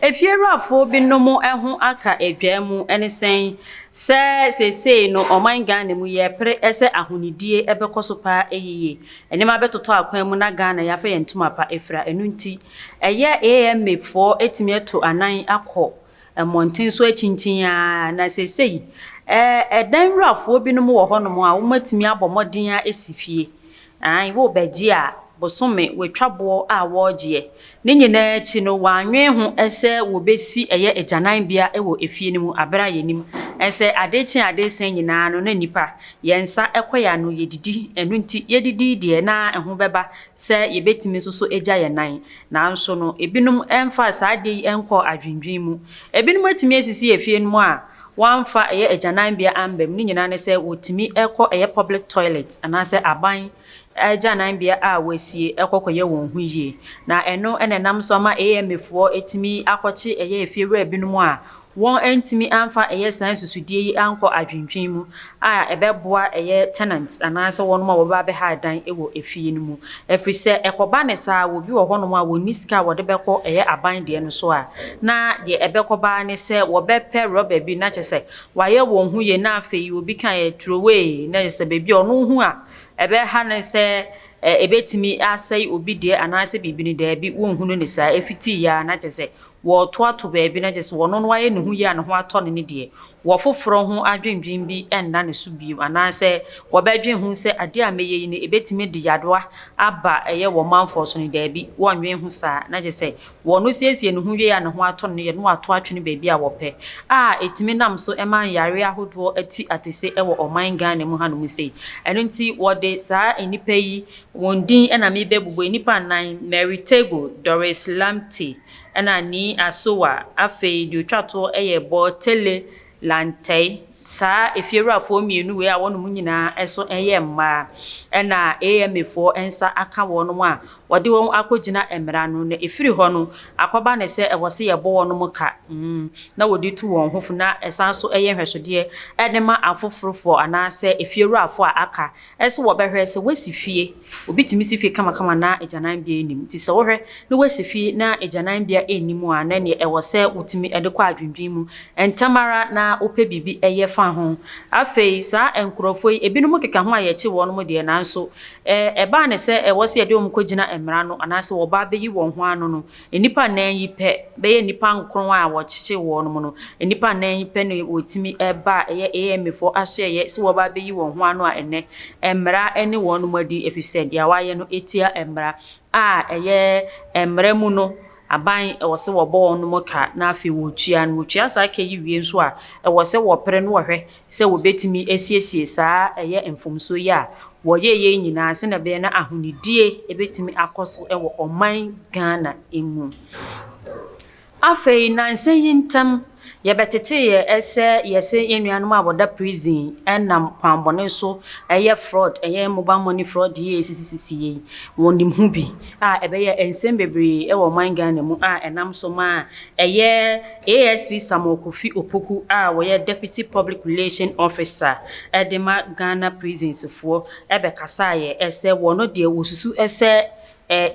Efiewurafoɔ binom ho aka dwaa mu ne sɛn sɛ seesei no ɔman Ghana mu yɛrepere sɛ ahonidie bɛkɔ so pa ara yiye, nneɛma bɛtotɔ akwan mu na Ghana yɛafa yɛn ntoma pa afira. Ɛno nti ɛyɛ AMA foɔ atumi atu anan akɔ Mmɔnten so akyinkyin ara, na seesei dan wurafoɔ binom wɔ hɔnom a wɔatumi abɔ mmɔden asi fie. Aane, worebɛgye a, bosome wɔatwa boɔ a wɔregyeɛ. Ne nyinaa akyi no, wɔannwene ho sɛ wɔbɛsi ɛyɛ agyananbea wɔ efie no mu, berɛ a yɛnim sɛ adeɛ kye adeɛ resa nyinaa no, na nnipa, yɛn nsa kɔ yɛn ano, yɛdidi. Ɛno nti, yɛdidi deɛ, na ɛho bɛba sɛ yɛbɛtumi nso so agya yɛn nan. Nanso no, ebinom mfaa saa ade yi nkɔɔ adwennwen mu. Ebinom atumi asisi afie no mu a wɔamfa ɛyɛ agyananbea amba mu, ne nyinaa ne sɛ wɔtumi kɔ ɛyɛ public toilet anaasɛ aban agyananbea a wɔasie kɔ kɔyɛ wɔn ho yie. Na ɛno na ɛnam so ama AMAfoɔ tumi akɔkye ɛyɛ afiewura binom a Wɔantumi amfa ɛyɛ saa nsusudeɛ yi ankɔ adwendwen mu a ɛbɛboa ɛyɛ tenants anaasɛ wɔnom a wɔbɛba abɛha dan wɔ efie no mu. Ɛfiri sɛ ɛkɔba ne saa wɔ bi wɔ hɔnom a wɔnni sika a wɔde bɛkɔ ɛyɛ aban deɛ no so a na deɛ ɛbɛkɔba ara ne sɛ wɔbɛpɛ rubber bi na kyerɛ sɛ wayɛ wɔn ho yie na afei obi ka yɛ throway na kyerɛ sɛ baabi a ɔno hu a ɛbɛha no sɛ ɛbɛtumi asɛe obi deɛ anaasɛ biribi no daabi wɔnhunu no saa ɛfitii yɛ ara na kyerɛ sɛ wɔreto ato baabi na gye sɛ ɔno no ayɛ ne ho yie a ne ho atɔ no ne deɛ wɔfoforɔ ho adwendwen bi nna ne so bio anaasɛ wɔbɛdwen ho sɛ adeɛ a mɛyɛ yi no ɛbɛtumi de yarewa aba ɛyɛ wɔ manfoɔ so no, daabi, wɔnnwen ho saa, na gye sɛ ɔno siesie ne ho wieɛ a ne ho atɔ no no yɛ na wɔato atwene baabi a wɔpɛ a ɛtumi nam so ma nyareɛ ahodoɔ ati atese wɔ ɔman Ghana mu hanom sei. Ɛno nti wɔde saa nnipa yi Wɔn din na merebɛbobɔ, nnipa nnan, Mary Tego, Doris Lamte, ɛna Nii Asowa, afei deɛ ɔtwa toɔ yɛ Bortele Lantey. Saa efiewurafoɔ mmienu wei a wɔnom nyinaa nso yɛ mmaa, ɛna AMA foɔ nsa aka wɔnom a wɔde wɔn akɔgyina mmara ano, na ɛfiri hɔ no akɔba no sɛ ɛwɔ sɛ yɛbɔ wɔnom ka, na wɔde tu wɔn ho fo, na ɛsan nso yɛ nhwɛsodeɛ de ma afoforofoɔ anaasɛ efiewurafoɔ a aka. Ɛsɛ wɔbɛhwɛ sɛ woasi fie. Obi tumi si fie kamakama na agyananbea nnim. Nti sɛ wohwɛ na woasi fie na agyananbea nni mu a, na ɛneɛ ɛwɔ sɛ wotumi de kɔ adwendwen mu ntɛm ara na wopɛ biribi yɛ fa ho. Afei saa nkorɔfoɔ yi, ebinom keka ho a yɛkye wɔnom deɛ, nanso ɛbaa ne sɛ ɛwɔ sɛ yɛde wɔn kɔgyina mmara no anaasɛ wɔba abɛyi wɔn ho ano no, Nnipa nnan yi pɛ bɛyɛ nnipa nkron a wɔkyekyee wɔn no mu no, nnipa nnan yi pɛ na wɔtumi ba a ɛyɛ AMAfoɔ asoɛeɛ sɛ wɔba abɛyi wɔn ho ano a ɛnnɛ mmara ne wɔn mu adi ɛfiri sɛ deɛ wɔayɛ no tia mmara a ɛyɛ mmara mu no aban ɛwɔ sɛ wɔbɔ wɔn ka na afei wɔtua. Na wɔtua saa ka yi wie nso a ɛwɔ sɛ wɔpere na wɔhwɛ sɛ wɔbɛtumi asiesie saa ɛyɛ mfomsoɔ yi a wɔyɛɛ yei nyinaa sɛdeɛ ɛbɛyɛ na ahonidie bɛtumi akɔ so wɔ ɔman Ghana mu. Afei nansa yi ntam yɛbɛteteeɛ sɛ yɛse yɛn nuanom a wɔda prison nam kwan bɔne so yɛ fraud, ɛyɛ mobile money fraud yi a ɛsisisisi yei, wɔnim ho bi a ɛbɛyɛ a nsɛm bebree wɔ ɔman Ghana mu a ɛnam so ma Ɛyɛ ASP Samuel Kofi Opoku a ɔyɛ Deputy Public Relation Officer de ma Ghana Prisons foɔ bɛkasaeɛ sɛ wɔn deɛ wɔsusu sɛ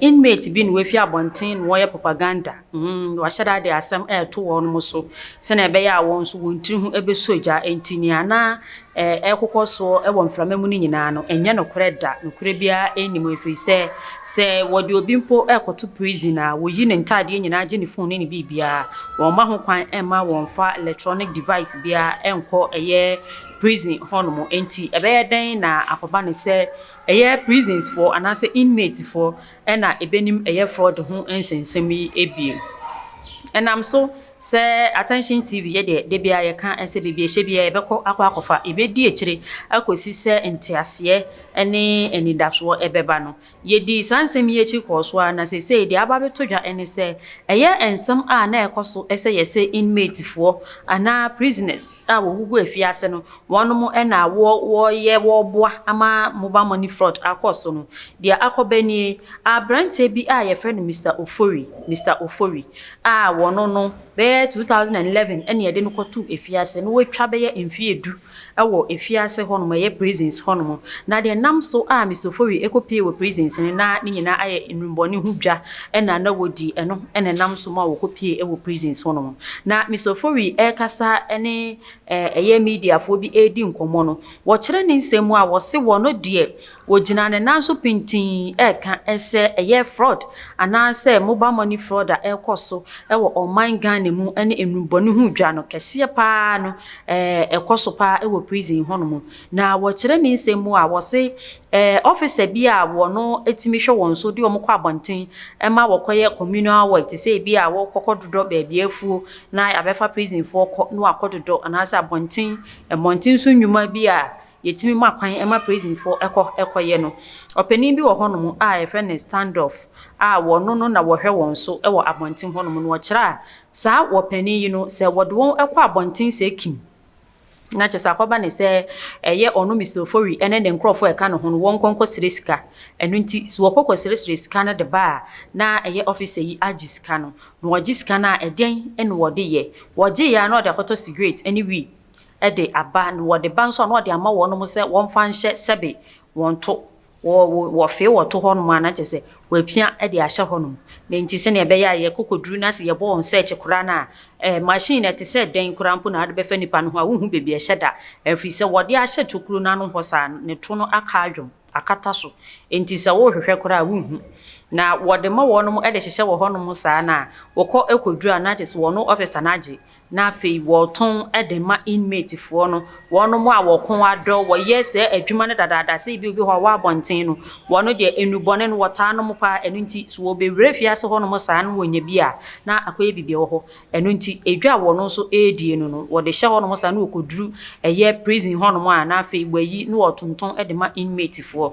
inmate bi na wafi abɔnten na ɔreyɛ propaganda, wahyɛ da de asɛm reto wɔn so sɛdeɛ ɛbɛyɛ a wɔn nso wɔn tiri ho bɛsɔ gya nti nea na ɛrekokɔ soɔ wɔ mframa mu no nyinaa no, ɛnyɛ nokorɛ da. Nokorɛ biara nni mu, ɛfiri sɛ, sɛ wɔde obi mpo rekɔto prison a, wɔyi ne ntadeɛ nyinaa gye ne fon ne ne biribiara. Wɔmma ho kwan mma wɔmfa electronic device biara nkɔ ɛyɛ prison hɔnom. Enti ɛbɛyɛ dɛn na akɔba no sɛ ɛyɛ prisonsfoɔ anaasɛ inmatefoɔ na ɛbɛnim ɛyɛ fraud ho nsɛnsɛm yi bio? Ɛnam so Sɛ Attention TV, yɛ deɛ da biara yɛka sɛ baabi a ɛhyɛ biara yɛbɛkɔ akɔ akɔfa. Yɛbɛdi akyire akɔsi sɛ nteaseɛ ne anidasoɔ bɛba no. Yɛdii saa nsɛm yi akyi kɔɔ so ara na seesei deɛ aba abɛtɔ dwa ne sɛ, ɛyɛ nsɛm a na ɛkɔ so sɛ yɛse inmatefoɔ anaa prisoners a wɔgugu afiase no, wɔnom na wɔyɛ wɔboa ama mobile money fraud akɔ so no. Deɛ akɔba nie, aberanteɛ bi a yɛfrɛ no Mister Ofori, Mister Ofori, a wɔno no bɛyɛ 2011 ɛna yɛde no kɔtoo afiase na watwa bɛyɛ mfeɛ du wɔ afiase hɔnom ɛyɛ prisons hɔnom na deɛ nam so a Mister Ofori ɛkɔ pie wɔ prisons no na ne nyinaa ayɛ nnwummɔne ho dwa ɛna na wɔdi ɛno ɛna ɛnam so ma wɔkɔ pie ɛwɔ prisons hɔnom na Mister Ofori ɛrekasa ɛne ɛyɛ mediafoɔ bi ɛredi nkɔmmɔ no wɔkyerɛ ne nsɛm mu a wɔse wɔno deɛ Wɔgyina ne nan so pintinn reka sɛ ɛyɛ frɔd anaasɛ mobal mɔni frɔd a ɛrekɔ so wɔ ɔman Ghana mu ne nnubɔne ho dwa no kɛseɛ pa ara no ɛkɔ so pa ara wɔ prison hɔ nom. Na wɔkyerɛ ne nsɛm mu a wɔse ɔfisa bi a wɔno tumi hwɛ wɔn so de wɔn kɔ abɔnten ma wɔkɔyɛ communal work te sɛ ebi a wɔkɔkɔ dodɔ baabi afuo na yɛabɛfa prisonfoɔ kɔ na wɔakɔ dodɔ anaasɛ abɔnten mmɔnten so nnwuma bi a yɛtumi ma kwan ma Prison-foɔ kɔ kɔyɛ no. Ɔpanin bi wɔ hɔ nom a yɛfrɛ no Standoff a wɔno no na wɔhwɛ wɔn so wɔ abɔnten hɔ nom no wɔkyerɛ a saa ɔpanin yi no sɛ wɔde wɔn kɔ abɔnten sɛ kim na kyɛ sɛ akɔba ne sɛ ɛyɛ ɔno Mister Ofori ne ne nkorɔfoɔ ɛka ne ho no wɔn nkɔnkɔ srɛ sika ɛno nti so wɔkɔ kɔ srɛ srɛ sika no de ba a na ɛyɛ officer yi agye sika no na wɔgye sika no a ɛdɛn na wɔde yɛ wɔgye yɛ a na ɔde akɔtɔ cigarette ne wii de aba, na wɔde ba nso a, na wɔde ama wɔnom sɛ wɔmfa nhyɛ sɛbe wɔn to, wɔ, wɔ, wɔfee wɔ to hɔnom a, na kyerɛ sɛ wɔapia de ahyɛ hɔnom. Na enti sɛnea ɛbɛyɛ a yɛkɔ kɔduru na sɛ yɛbɔ wɔn search koraa no a, eh, machine no, ɛte sɛ dɛn koraa mpo na wode bɛfa nipa no ho a, wonhu baabi a ɛhyɛ da, ɛfiri sɛ wɔde ahyɛ tokuro no ano hɔ saa no, ne to no aka adwom. akata so, enti sɛ worehwehwɛ koraa a, wunhu. Na wɔde ma wɔnom de hyehyɛ wɔ hɔnom saa no a, wokɔ kɔduru a, na kyerɛ sɛ wɔn officer no agye, na afei wɔtɔn de ma inmatefoɔ no, wɔnom a wɔko adɔ, wɔyɛ saa adwuma no dadaada, sɛ ebia obi hɔ a ɔwɔ abɔnten no, wɔn deɛ nnubɔne no wɔtaa nom pa ara, ɛno nti sɛ wɔbɛwura afiase hɔnom saa na wɔnya bi a, na akɔyɛ biribi wɔ hɔ. Ɛno nti, edwa a wɔno nso redie no no, wɔde hyɛ hɔnom saa na wɔkɔduru ɛyɛ prison hɔnom a, na afei wɔayi na wɔtontɔn de ma inmate foɔ.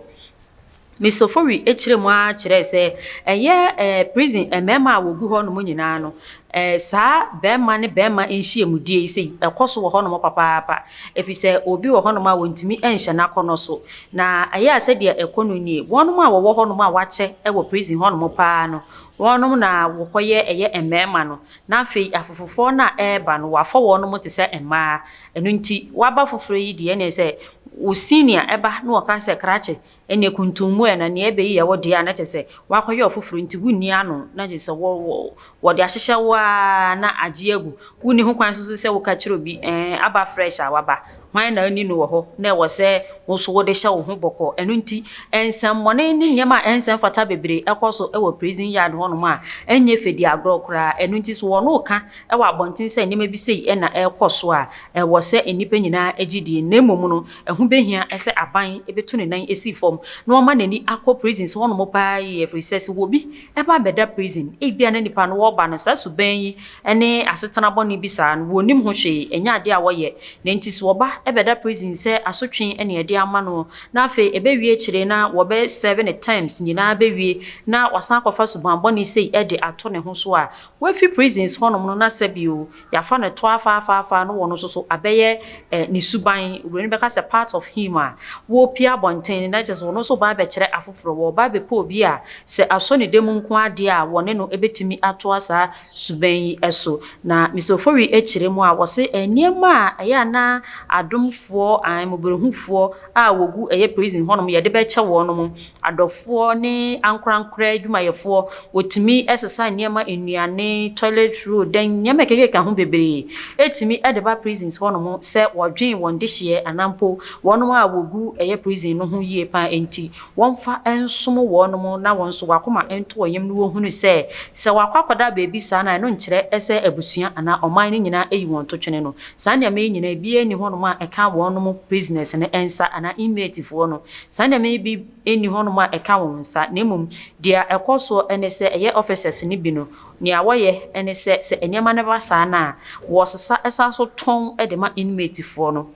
Miss Ofori kyerɛɛ mu ara kyerɛɛ sɛ ɛyɛ ɛɛ prison mmarima a wɔgu hɔnom nyinaa no, ɛɛ saa barima ne barima nhyiamudie yi sei ɛkɔ so wɔ hɔnom papaapa, ɛfiri sɛ obi wɔ hɔnom a wɔntumi nhyɛ no akɔnnɔ so. Na ɛyɛ a sɛdeɛ ɛkɔ no nie, wɔnom a wɔwɔ hɔnom a wɔakyɛ wɔ prison hɔnom pa ara no, Wɔnom na wɔkɔyɛ ɛyɛ mmarima no, na afei afofofoɔ no a ɛreba no wɔafɔ wɔnom te sɛ mmaa. Ɛno nti waba foforɔ yi deɛ ɛneɛ sɛ wo senior ɛba na ɔka sɛ krakye ɛneɛ kuntummua na neɛ ɛbɛyi yɛ wo deɛ a na kyerɛ sɛ wakɔyɛ ɔfoforɔ nti wonni ano na gye sɛ wɔ wɔ wɔde ahyehyɛ wo ara na agye agu. Wonni ho kwan nso sɛ woka kyerɛ obi ɛɛn aba fresh a waba Hwan na anni no wɔ hɔ na ɛwɔ sɛ wo nso wode hyɛ wo ho bɔkɔɔ? Ɛno nti, nsɛmmɔne ne nneɛma a ɛnsɛ mfata bebree kɔ so wɔ prison yard hɔnom a ɛnyɛ fɛ di agorɔ koraa. Ɛno nti, so wɔn reka wɔ abɔnten sɛ nneɛma bi sei na ɛrekɔ so a, ɛwɔ sɛ nnipa nyinaa gye die, na mmom no, ɛho bɛhia sɛ aban bɛtu ne nan si fam na ɔma n'ani akɔ prisons hɔnom paa yie, ɛfiri sɛ, sɛ obi Ɛba bɛda prison ebia na nipa no wɔba no saa suban yi ne asetena bɔne bi saa no wɔnnim ho hwee ɛnyɛ adeɛ a wɔyɛ na nti so wɔba bɛda prison sɛ asotwe na yɛde ama no na afei ɛbɛwie akyire na wɔbɛ serve no terms nyinaa bɛwie na wasan akɔfa suban bɔne sei de ato ne ho so a wafi prisons hɔnom no na sɛbio Yɛafa no to afaafaafaa no wɔ no so so abɛyɛ ne suban, oburoni bɛka sɛ part of him a wɔrepue abɔnten, na kyerɛ sɛ ɔno nso reba abɛkyerɛ afoforɔ, ɔreba abɛpɛ obi a sɛ asɔ ne dam nko ara deɛ a wɔne no bɛtumi atoa saa suban yi so. Na Mister Ofori kyerɛ mu a, ɔse nneɛma a ɛyɛ a na adomfoɔ, ae, mmɔborɔhufoɔ a wɔgu ɛyɛ prison hɔnom yɛde bɛkyɛ wɔnom, adɔfoɔ ne ankorankorɛ adwumayɛfoɔ, wɔtumi sesa nneɛma, nnuane, toilet roll, dan, nneɛma ɛkekeka ho bebree, ɛtumi de ba prisons hɔ nom sɛ wɔdwen wɔn dehyeɛ anaa mpo wɔn a wɔgu ɛyɛ prison no ho yie paa nti wɔmfa nsom wɔn nom na wɔn nso wɔakoma nto wɔn yam no wɔhunu sɛ sɛ wɔakɔ akɔda baabi saa no a ɛno nkyerɛ sɛ abusua anaa ɔman no nyinaa ayi wɔn totwene no saa nneɛma yi nyinaa biara nni hɔ nom a ɛka wɔn nom prisoners no nsa anaa inmatefoɔ no Saa nneɛma yi bi nni hɔnom a ɛka wɔn nsa, na mmom deɛ ɛkɔ so ne sɛ ɛyɛ officers no bi no, nea wɔyɛ ne sɛ, sɛ nneɛma no ba saa no a, wɔsesa san so tɔn de ma inmatefoɔ no.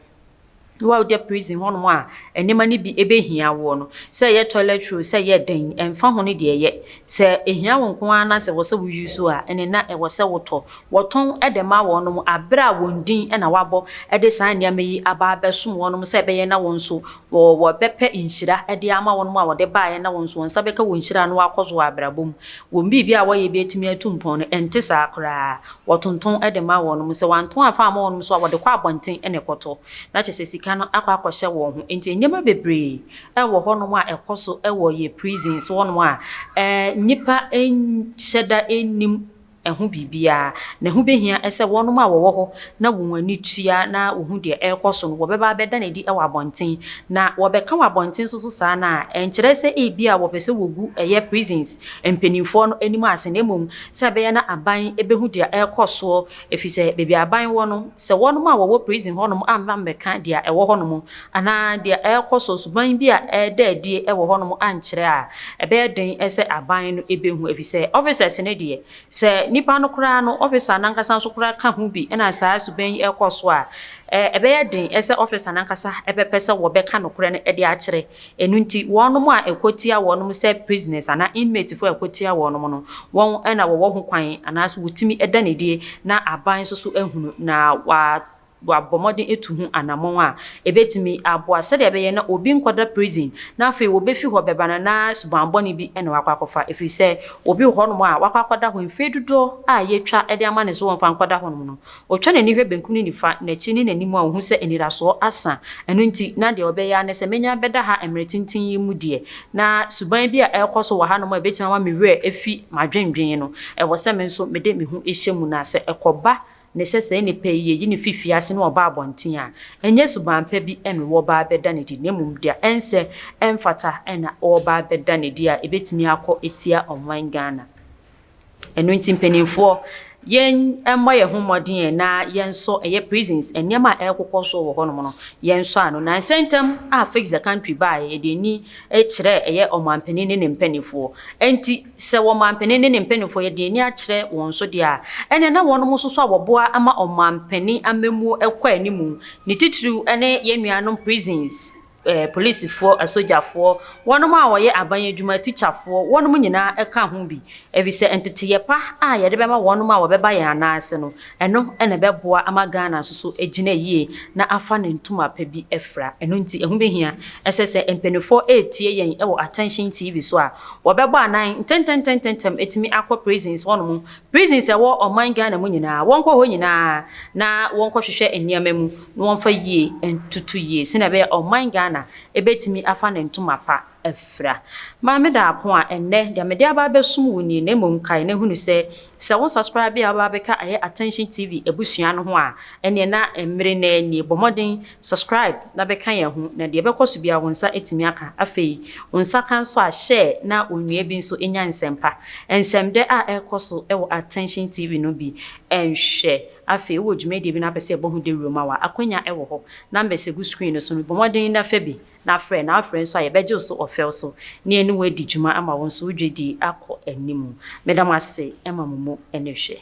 Wo a woda prison hɔnom a nneɛma no bi bɛhia woɔ no, sɛ ɛyɛ toilet roll, sɛ ɛyɛ dɛn, ɛmfa ho ne deɛ ɛyɛ, sɛ ɛhia wo nko ara na sɛ ɛwɔ sɛ wo use a, ɛnneɛ na ɛwɔ sɛ wotɔ. Wɔtɔn de ma wɔnom berɛ a wɔn din na wɔabɔ de saa nneɛma yi aba abɛsom wɔnom sɛ ɛbɛyɛ na wɔn nso Wɔ wɔ bɛ pɛ nhyira de ama wɔnom a wɔde baeɛ na wɔnso wɔn nsa bɛka wɔ nhyira no akɔ so wɔ abrabɔ mu. Wɔn biribi a wɔyɛ bi atumi atu mpɔn no, ɛnte saa koraa. Wɔtonton de ma wɔnom. Sɛ wɔanton amfa amma wɔnom nso a, wɔde kɔ abɔnten na ɛkɔtɔ. Na kyerɛ sɛ sika no akɔ akɔhyɛ wɔn ho. Enti nneɛma bebree wɔ hɔnom a ɛkɔ so wɔ yɛ prisons hɔnom a nnipa nhyɛ da nnim. ho biribiara, na ɛho bɛhia sɛ wɔnom a wɔwɔ hɔ na wɔn ani tua na wɔhu deɛ ɛrekɔ so no, wɔbɛba abɛda no adi wɔ abɔnten. Na wɔbɛka wɔ abɔnten so so saa no a, ɛnkyerɛ sɛ ebia wɔpɛ sɛ wɔgu ɛyɛ prisons mpaninfoɔ no anim ase, na mmom sɛ ɛbɛyɛ na aban bɛhu deɛ ɛrekɔ soɔ, ɛfiri sɛ baabi a aban wɔ no, sɛ wɔnom a wɔwɔ prison hɔnom amma mmɛka deɛ ɛwɔ hɔnom anaa deɛ ɛrekɔ so, suban bi a ɛreda adie wɔ hɔnom ankyerɛ a, ɛbɛyɛ den sɛ aban no bɛhu ɛfiri sɛ officers no deɛ, sɛ nipa no koraa no officer no ankasa nso koraa ka ho bi na saa suban yi rekɔ so a, ɛbɛyɛ den sɛ officer no ankasa bɛpɛ sɛ wɔbɛka nokorɛ no de akyerɛ. Ɛno nti, wɔnom a ɛkɔtia wɔnom sɛ prisoners anaa inmates foɔ a ɛkɔtia wɔnom no, wɔn na wɔwɔ ho kwan anaa sɛ wɔtumi da no adie na aban nso so ahunu na wa wɔabɔ mmɔden atu ho anammɔn a ebetumi aboa sɛnea ɛbɛyɛ na obi nkɔda prison na afei wobefi hɔ bɛba no na subammɔne bi na wakɔ akɔfa efiri sɛ obi wɔ hɔnom a wakɔ akɔda hɔ mfeɛ dodoɔ a yɛatwa de ama no sɛ wɔmfa nkɔda hɔnom no ɔtwa n'ani hwɛ benkum ne nifa, n'akyi ne n'anim a ɔhu sɛ anidasoɔ asa ɛno nti na deɛ ɔbɛyɛ ara ne sɛ mɛnya bɛda ha mmerɛ tenten yi mu deɛ na suban bi a ɛrekɔ so wɔ hanom a ɛbɛtumi ama me werɛ afi m'adwendwene no ɛwɔ sɛ me nso mede me ho hyɛ mu na sɛ ɛkɔba ne sɛ saa nipa yi, yɛyi no fi fiase na ɔba abɔnten a, ɛnyɛ suban pa bi na wɔreba abɛda no adi, na mmom deɛ ɛnsɛ, ɛmfata na wɔreba abɛda no adi a ɛbɛtumi akɔ atia ɔman Ghana. Ɛno nti mpanimfoɔ, yɛn mmɔ yɛn ho mmɔden na yɛnsɔ ɛyɛ prisons, nneɛma a ɛrekokɔ so wɔ hɔnom no, yɛnsɔ ano. Nnansa ntam a Fix the Country baeɛ, yɛde ani kyerɛɛ ɛyɛ ɔmanpanin ne ne mpanimfoɔ, Enti, sɛ ɔmampanin ne ne mpanimfoɔ yɛ deɛ ani akyerɛ wɔn so deɛ a, ɛnneɛ na wɔnom nso so a wɔboa ma ɔmampanin amammuo kɔ anim, ne titiriw ne yɛn nuanom prisons, polisifoɔ, asogyafoɔ, wɔnom a wɔyɛ aban adwuma, tikyafoɔ, wɔnom nyinaa ka ho bi, efisɛ nteteeɛ pa a yɛde bɛma wɔnom a wɔbɛba yɛn anan ase no, Ɛno na ɛbɛboa ama Ghana nso so agyina yie na afa ne ntoma pa bi afira. Ɛno nti ɛho bɛhia sɛ sɛ mpaninfoɔ retie yɛn wɔ Attention TV so a, wɔbɛbɔ anan ntɛntɛntɛntɛntɛm atumi akɔ prisons hɔ nom, prisons a ɛwɔ ɔman Ghana mu nyinaa, wɔnkɔ hɔ nyinaa na wɔnkɔ hwehwɛ nneɛma mu na wɔmfa yie ntoto yie sɛdeɛ ɛbɛyɛ a ɔman Ghana bɛtumi afa ne ntoma pa. afira. Maame Daapon a, ɛnnɛ, deɛ mede aba abɛsom wo nie, na mmom kae na hunu sɛ, sɛ wo subscribe a woaba abɛka ɛyɛ Attention TV abusua no ho a, ɛneɛ na mmere no ara nie. Bɔ mmɔden, subscribe na bɛka yɛn ho, na deɛ ɛbɛkɔ so biara wo nsa atumi aka. Afei, wo nsa ka nso a, share na onua bi nso nya nsɛmpa, nsɛmdɛ a ɛrekɔ so wɔ Attention TV no bi nhwɛ. Afei, wowɔ dwumadie bi na wopɛ sɛ yɛbɔ ho dawuro ma wo a, akwanya wɔ hɔ. Numbers gu screen no so no, bɔ mmɔden na fa bi. na frɛ na afrɛ nso a yɛbɛgye wo so ɔfɛw so na yɛne wo adi dwuma ama wo nso wo dwadie akɔ anim. Meda mo ase ma mo mu ne hwɛ.